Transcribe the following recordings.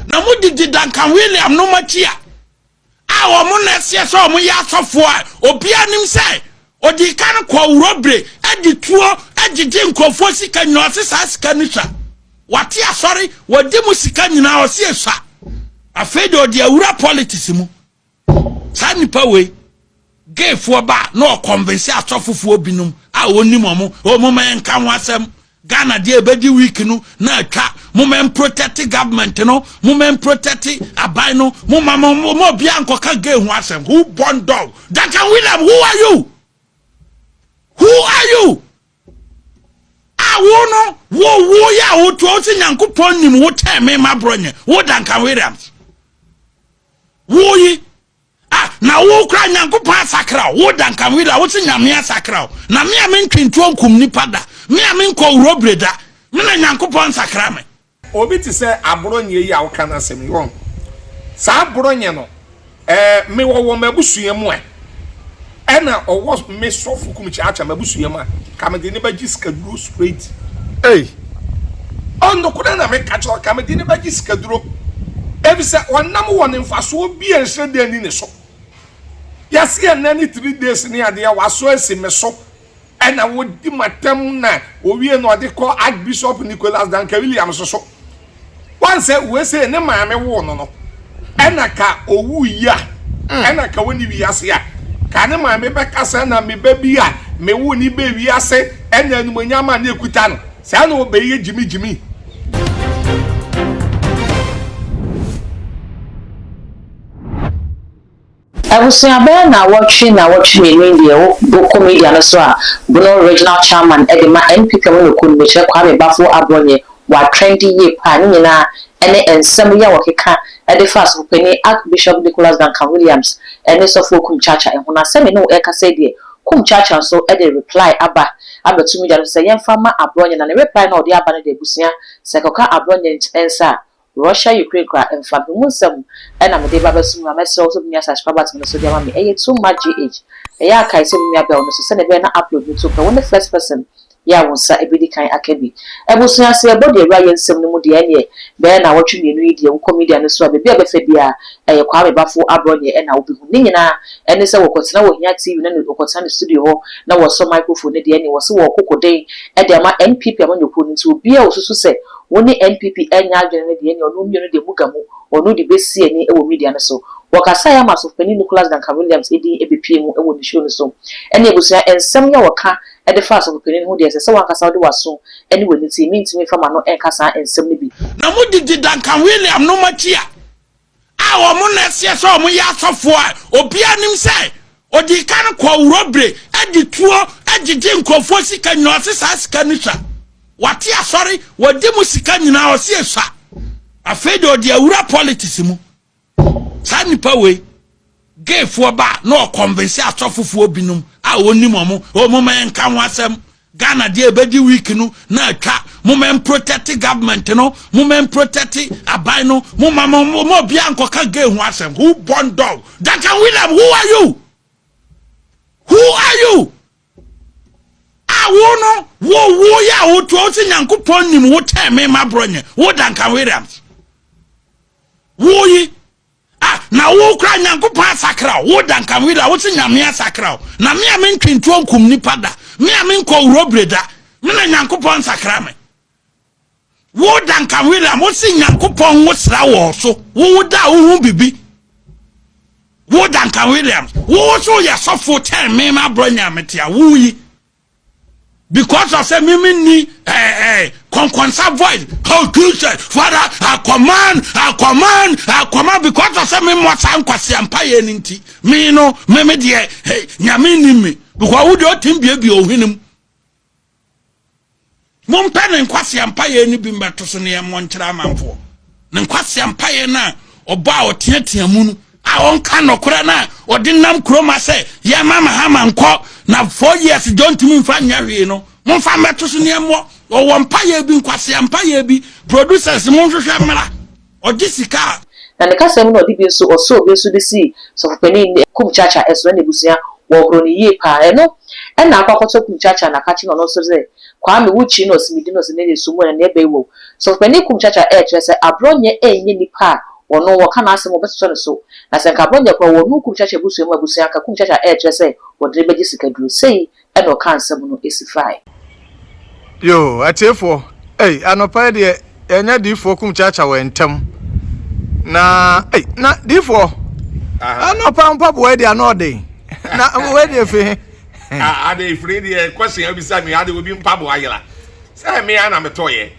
Na wɔdidi Duncan William nom akyi a a wɔn na ɛseɛ sɛ wɔn yɛ asɔfoɔ a obiara nim sɛ ɔdi kan kɔ wurɔbire ɛdi tuo ɛgyegye nkurɔfoɔ sika nyina ɔse saa sika no sua wate asɔre wɔdi mu sika nyinaa ɔse ɛsua afei de ɔde awura politics mu Saa nipa wei gay foɔ ba a na ɔconvince asɔfo foɔ binom a ɔnim ɔmo o moma yɛn nka ho asɛm Ghana deɛ ɛbɛdi week no na atwa moma yɛn protect government no moma yɛn protect aban no moma moma obiara nkɔka gay ho asɛm who born dog Duncan William who are you who are you a wo no wo wo yɛ a wotoa wo sɛ Nyankopɔn nim wo kyɛn me ma borɔ nyɛ wo Duncan Williams Wo yi, ah, na wo kora Nyankopɔn asakra wo, wo da nkanwe da, wo se Nyame asakra wo, na me a me ntwe ntuo nkum nipa da, me a me nkɔ wurobire da, me na Nyankopɔn nsakra me. Obi te sɛ Aborɔnyeɛ yi a woka n'asɛm yi, woahu saa Aborɔnyeɛ no? Ɛɛ, mewɔ wɔ m'abusua mu ɛ. Ɛna ɔwɔ me sɔfo kum kyeakyea m'abusua mu a ka me de ne ba gye sika duro straight. Ei! Oh nokore na me ka kyerɛ wo ka me de ne ba gye sika duro efisɛ ɔnam wɔ ne mfasoɔ bi a nhyerɛdeɛ nni ne so. Yɛse ɛnɛ ne three days ne adeɛ wasɔ asi me so. Ɛna wɔdi mu atɛm na wɔwie no ɔde kɔ Archbishop Nicholas Duncan Williams so. Wɔn sɛ wei sei ne maame woo no no ɛna ka owu yi a ɛna ka wɔni wiase a ka ne maame bɛka sɛ na me ba bi a me wo ne bɛ wiase ɛna animonyam a ne ekuta no saa na ɔbɛyɛ gyimi gyimi. Abusua bɛyɛ naawɔtwe naawɔtwe mmienu ni deɛ wokɔ media no so a Bono Regional Chairman de ma NPP a wɔnɔ kuo no mekyerɛ Kwame Baffour Abonye wɔ atrɛndi yie paa ne nyinaa ne nsɛm yi a wɔkeka de fa Asɔfopanin Archbishop Nicholas Duncan Williams ne Sɔfoɔ Kumkyaakya ho na sɛ me ne wo rekasa yi deɛ Kumkyaakya nso de reply aba abɛto media no so sɛ yɛmfa mma Abonye na ne reply no a ɔde aba no de abusua sɛ ɛkɔka Abonye nsa a Russia Ukraine koraa mfa me ho nsɛm na mede reba abɛsom no a mɛsrɛ wo sɛ wobɛtumi asa subscribers me no so de ama me ɛyɛ too much GH ɛyɛ a kae sɛ me nua bɛn wo no so sɛnea ɛbɛyɛ na upload no to pɛ wo ne first person yɛ a wo nsa bɛdi kan aka bi abusua sɛ yɛbɔ deɛ awura yɛ nsɛm no mu deɛ ɛneɛ bɛyɛ naawɔtwe mmienu yi deɛ wokɔ media no so a baabi a bɛfa biara ɛyɛ Kwame Bafo Abrɔnneɛ na wobɛhu ne nyinaa ɛne sɛ wɔkɔtena wɔ Hia TV no ne wɔkɔtena ne studio hɔ na wɔsɔ microphone no deɛ ɛneɛ wɔse wɔɔko koden de ama NPP amanyɔkuo no nti obiara a ɔsusu sɛ Wo ne NPP ɛnyɛ adwene no deɛ ɛneɛ ɔno mmienu deɛ mo ga mu, ɔno de bɛsi ani wɔ media no so. Wɔkasaeɛ ama Asɔfopanin Nicholas Duncan Williams din ɛbɛpue mu wɔ ne show no so. Ɛne abusua nsɛm yi a wɔka de fa Asɔfopanin ho deɛ ɛsɛ sɛ wankasa wode w'aso ne w'ani tie, mentumi mfa m'ano nka saa nsɛm no bi. Na mo gyegye Duncan William nom akyi a, a wɔn na ɛseɛ sɛ wɔn yɛ asɔfoɔ a obiara nim sɛ ɔdi kan kɔ wurɔbire ɛdi tuo ɛgyegye nkurɔfoɔ sika nyinaa ɔse saa sika no sua wate asɔre wɔdi mu sika nyinaa ɔse esua afei de ɔde awura politics mu saa nipa wei Gay foɔ ba na ɔconvince asɔfo foɔ binom a ɔnim wɔn oh moma yɛnka ho asɛm Ghana deɛ ɛbɛdi week no na atwa moma yɛnprotect government no moma yɛnprotect aban no moma moma obiara nkɔka gay ho asɛm who born dog Duncan William who are you who are you a wo no wo wo yɛ a wotoa wo sɛ Nyankopɔn nim wo kyɛn me ma borɔ nyɛ wo Duncan Williams wo yi Ah, na wo koraa Nyankopɔn asakra wo, wo Dankamwira, wo se Nyame asakra wo, na me a me ntwe ntuo nkum nipa da, me a me nkɔ Urobre da, me na Nyankopɔn nsakra me. Wo Dankamwira, wo se Nyankopɔn nwo sra wɔ so, wo wo da wo ho bibi. Wo Dankamwira, wo wo so yɛ sɔfo kyɛn me ma brɔ Nyame tia, wo yi. Because of sɛ me me nni eh eh kɔnkɔnsa voice oh Jesus father I command I command I command because of sɛ me mmɔ saa nkwasia mpa yɛ ne nti me no me me deɛ hey nyame nni me because wo deɛ ɔtim biebie ohwenem. Mompɛ ne nkwasea mpaeɛ no bi mmɛto so ne ɛmmɔ nkyerɛ amanfoɔ. Ne nkwasea mpaeɛ no a ɔbɔ a ɔteatea mu no. A ɔnka nokorɛ no a ɔde nam Kuroma sɛ yɛmma Mahama nkɔ na four years John ntumi mfa nyɛ hwee no. Momfa mmɛto so ne ɛmmɔ. Ɔwɔ mpaeɛ bi, nkwasea mpaeɛ bi. Producers monhwehwɛ mmra. ɔgye sika a. Na ne kasa mu no ɔde bi nso ɔsoo obi nso de sii sɔfopanin Kum Chacha ɛso na n'abusua wɔhoroo no yie paa ɛno ɛna akɔ akɔtɔ Kum Chacha na aka kyerɛ no ɔno nso sɛ Kwame wo kyi na ɔse medi no ɔse ne deɛ so mu ɛnneɛ bɛn wɔ mu sɔfopanin Kum Chacha ɛɛkyerɛ sɛ abrɔnyɛ ɛnyɛ nipa a ɔno wɔka n'asɛm wɔbɛtotɔ ne so na sɛ nka abrɔnyɛ koraa ɔwɔ ɔno Kum Chacha abusua mu abusua anka Kum Chacha ɛɛkyerɛ sɛ wɔde no bɛgye sika duro sei na ɔkaa nsɛm no si fae. Yoo atiefoɔ ei anɔpa yi deɛ yɛanya diifoɔ kum kyaakya wɔ ntɛm na ei na diifoɔ anɔpa mpaboa yi deɛ ano ɔden na wei deɛ fi he ade firi deɛ kwasi abisa me ade obi mpaboa yera sɛ me a na metɔyɛ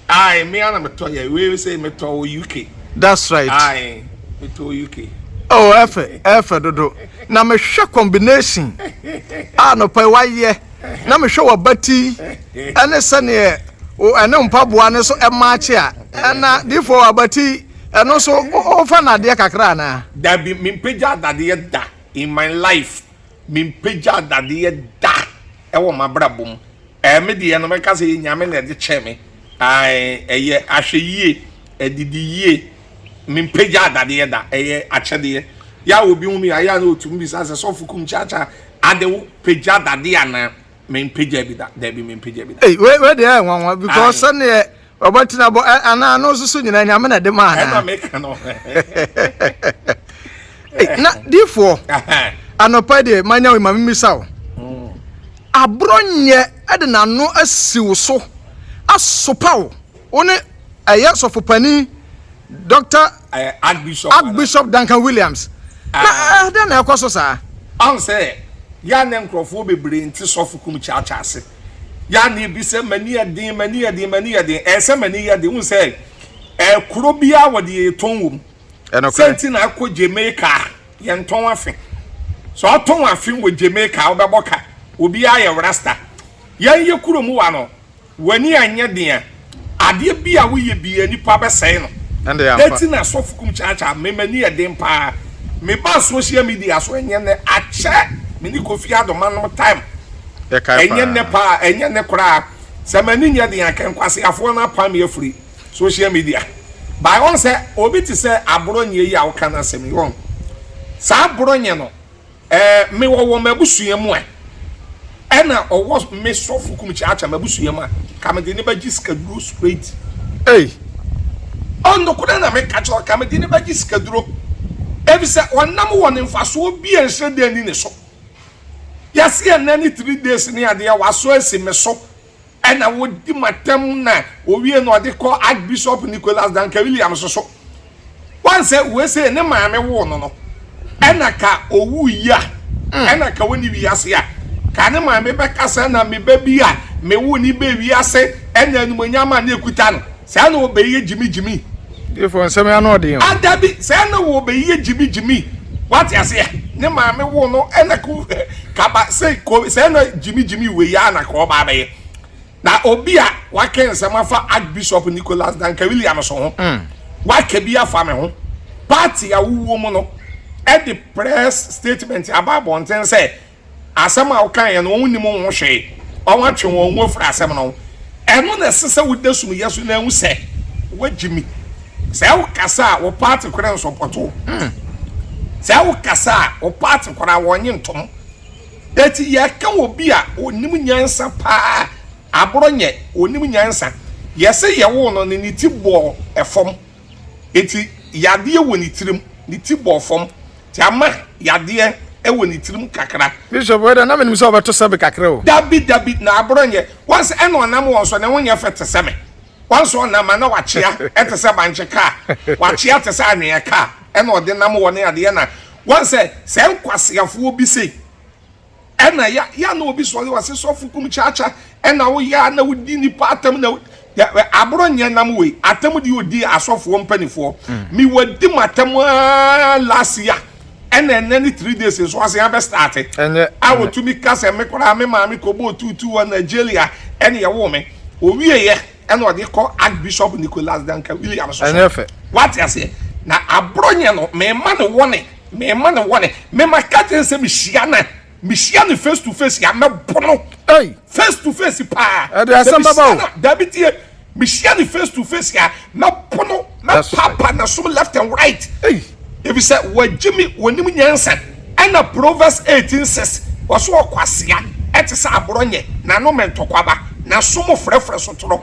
Aye me ara na metɔ yɛ wei sɛ metɔ wɔ UK. That's right. Aye metɔ wɔ UK. Oh ɛfɛ ɛfɛ dodo na mehwɛ combination a nɔpa yi wayɛ na mehwɛ wabati ɛne sɛdeɛ ɛne mpaboa no so ɛmaakye a ɛna difoɔ wabati ɛno so wofa no adeɛ kakra anaa. Dabi mempagya adadeɛ da in my life mempagya adadeɛ da. ɛwɔ m'abrabɔ mu ɛɛ me deɛ no mɛka sɛ nyame na ɛde kyɛɛ me ae ɛyɛ ahwɛ yie ɛdidi yie mempagya adadeɛ da ɛyɛ akyɛdeɛ yɛ a obi hu me ayɛ a na ɔtum bisa sɛ sɔfo kum kyakya ade wo pagya adadeɛ anaa mempagya bi da daabi mempagya bi da Ei, wei wei deɛ ɛyɛ nwanwa because Aye. sɛdeɛ Ɔbɔ tena bɔ eh, anaa no nso so nyinaa nyame na ɛde ma anaa. Ɛna meka no. Na difoɔ anɔpa deɛ manya wo ma memisa wo. Mm. Aborɔ nyɛ ɛde n'ano asi wo so asopa wo wo ne ɛyɛ sɔfopani Dr. Eh, Archbishop, Archbishop Duncan Williams. Ah. Na ɛdɛ eh, na ɛkɔ so saa. Ɔn sɛ yɛa ne nkurɔfoɔ bebree nte sɔfo kum kyaakyaa ase. Yane bi sɛ m'ani yɛ den, m'ani yɛ den, m'ani yɛ den. Ɛnsɛ m'ani yɛ den. Wohu sɛ ɛkuro biara wɔde yɛtɔn wɔ mu. Sɛ nti na akɔ Jamaica a yɛntɔn afe. Sɛ ɔtɔn afe wɔ Jamaica a wobɛbɔ ka. Obiara yɛ rasta. Yɛn yɛ kuro mu wa no, w'ani anyɛ den a Adeɛ bi a woyɛ biaa nipa bɛsɛe no ɛti na sɔfo kum kyakya me m'ani yɛ den paa me baa social media so ɛnyɛ nɛ akyɛ me ne Kofi Addo manom time ɛnyɛ nɛ paa ɛnyɛ nɛ koraa sɛ m'ani nyɛ den a kɛ nkwaseafoɔ no apam me afiri social media by wɔn sɛ obi te sɛ Aborɔnyɛ yi a woka no asɛm yi wɔn saa Aborɔnyɛ no Ɛɛ me wɔ wɔ m'abusua mu a ɛna ɔwɔ me sɔfo kum kyaakya m'abusua mu a ka me de ne bɛgye sikaduro straight. Ei oh nokorɛ na me ka kyerɛ ka me de ne bɛgye sikaduro efisɛ ɔnam wɔ ne nfasoɔ bi a nhyerɛdeɛ nni ne so yɛse ɛnɛ ne three days ne adeɛ wasɔ asi me so. Ɛna wɔdi mu atɛm na wɔwie no wɔde kɔ Archbishop Nicholas Duncan Williams so. Wɔn sɛ wei sei ne maame woo no no ɛna ka owu yi a ɛna ka wɔni wiase a ka ne maame bɛka sɛ na me ba bi a mewoo ne baa wiase ɛna animonyam a na ɛkuta no. Saa na wɔbɛyɛ gyimigyimi. Difoɔ nsɛm yi ano ɔden o. Ah dabi, saa na wɔbɛyɛ gyimigyimi. Wate aseɛ? Ne maame wo no ɛna ko kaba sɛ ko saa na gyimigyimi wei ara na kɔɔba abɛyɛ. Na obi a waka nsɛm afa Archbishop Nicholas Duncan Williams ho, mm. waka bi afa me ho. Party a wowɔ mu no ɛde press statement aba abɔnten sɛ Asɛm a wokaeɛ no, wɔn nnim ho hwee. Wɔatwe wɔn ho afiri asɛm no ho. Ɛno na ɛsɛ sɛ woda sum yɛ so na ahu sɛ wɔagye mi. Sɛ wokasa a, wo paate koraa nsɔpɔto wo. Hmm. Sɛ wokasa a, wo paate koraa wɔnnye ntom. Eti yɛka obi a onim nyansa paa, aborɔ nyɛ, onim nyansa. Yɛse yɛwoo no no, ne ti bɔɔ fam. Enti yadeɛ wɔ ne tirim, ne ti bɔɔ fam, nti ama yadeɛ wɔ ne tirim kakra. Bishop wei deɛ na menim sɛ ɔbɛto sɛbe kakra o. Dabi dabi na aboro nyɛ once ɛna ɔnam wɔn so ne ho nyɛ fɛ te sɛ me once ɔnam a na wakyea te sɛ bankye car wakyea te sɛ anwea car ɛna ɔde nam hɔ ne adeɛ na wɔn sɛ sɛ nkwaseafoɔ bi sei Ɛna ya ya na obi sɔre ɔse sɔfo kum kyakya ɛna wo ya na wodi nipa atam na aboro nyɛ nam wei atam di odi asɔfoɔ mpanifoɔ mi wadi mo atam aa last ya ɛna ɛnɛ ne three days nso ɔse abɛ start a otumi ka sɛ me koraa me maame kɔbɔ otutu wɔ Nigeria ɛna ɛwɔ me owie yɛ ɛna ɔde kɔ Archbishop Nicholas Duncan Williams so. Ɛnyɛ fɛ. Wate aseɛ? Na aborɔ nyɛ no, mema ne wɔne, mema ne wɔne. Mema ka kyerɛ sɛ mehyia no, mehyia no face to face a, mɛbo no. Ei. Face to face paa. Ɛde asɛm bɛba o. Dabi tie, mehyia no face to face a, mɛbo no, mɛpapa na som left and right. Ei. efisɛ wɔagye me wɔnim nyansa ɛna Proverbs eighteen six wɔse ɔkwasea ɛte sɛ aborɔnyɛ n'ano mɛ ntɔkwaba n'aso mu frɛfrɛ so toro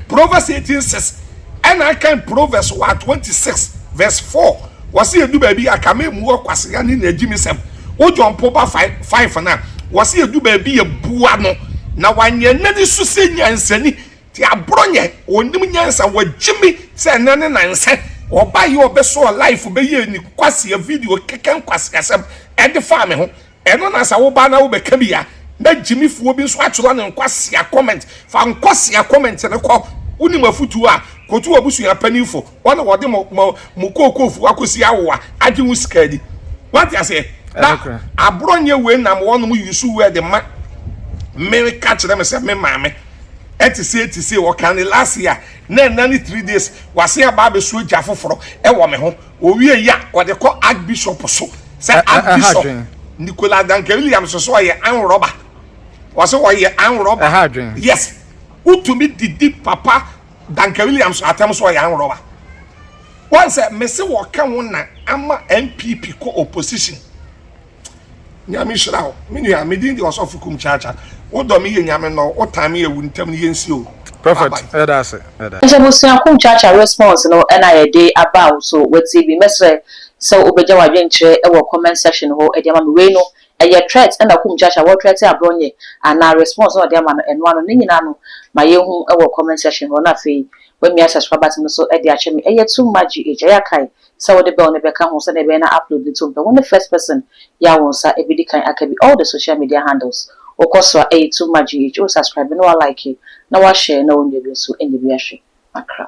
Proverbs eighteen six ɛna akan Proverbs wa twenty six verse four wɔse ɛdu baabi a ka mɛ mua ɔkwasea ne n'agyimisɛm wo gyɔmpo ba five no a wɔse ɛdu baabi a bua no na wanyɛ n'ani so sɛ nyansani te aborɔ nyɛ ɔnim nyansa wagye me sɛ ɛnɛ ne nansɛ ɔba yɛ ɔbɛsɔɔ life bɛyɛ ni kwasia video kɛkɛ nkwasiasɛm ɛde faa me ho ɛno na sɛ woba na wobɛka bi a na gyimifoɔ bi nso atwerɛ ne nkwasia comment fa nkwasia comment ne kɔ wonim afutuo a kɔtu abusua panimfo wɔn na wɔde mo mo mo kookoo fo akɔsi awo a agye ho sika ni wate aseɛ na aborɔ nyɛ wei nam wɔn mo yusu wei de ma mmere ka kyerɛ me sɛ me maame ɛte sɛ ɛte sɛ ɔka ne last year na ɛna ne three days wase aba abɛsuo gya foforɔ ɛwɔ me ho owie yi a ɔde kɔ archbishop so sɛ archbishop nicola duncan williams so ɔyɛ anworɔba wɔsɛ ɔyɛ anworɔba yes wotumi didi papa Duncan Williams atam so ɔyɛ anworowa wɔn sɛ mese wɔka wo na ama NPP kɔ opposition Nyame hyira wo me nua me din de ɔsɔfo kum kyaakya wo dɔ me yie Nyame nnɔ wo wo tan me yɛ wo ntam no yɛn si o Prophet yɛda ase yɛda. Nti abusua kum kyaakya response no na yɛde aba wo so wɔ TV mɛsrɛ sɛ wobɛgya wadwen kyerɛ wɔ comment section hɔ de ama me wei no Ɛyɛ threat na kumkyakye a wɔretrɛte aborɔ nyɛ anaa response na ɔde ama no ɛno ano? Ne nyinaa no ma yɛnhu wɔ comment section hɔ na afei woamia subscribe button no so de akyɛ me. Ɛyɛ too much GH. Ɛyɛ a kae sɛ wode bell no bɛka ho sɛdeɛ ɛbɛyɛ na upload no to mpɛ. Wone first person yi a wo nsa bɛdi kan aka bi all the social media handles. Wokɔ so a ɛyɛ too much GH. Wo subscribe na wa like na wa share na wo nua bi nso nya bi ahwɛ. Makra.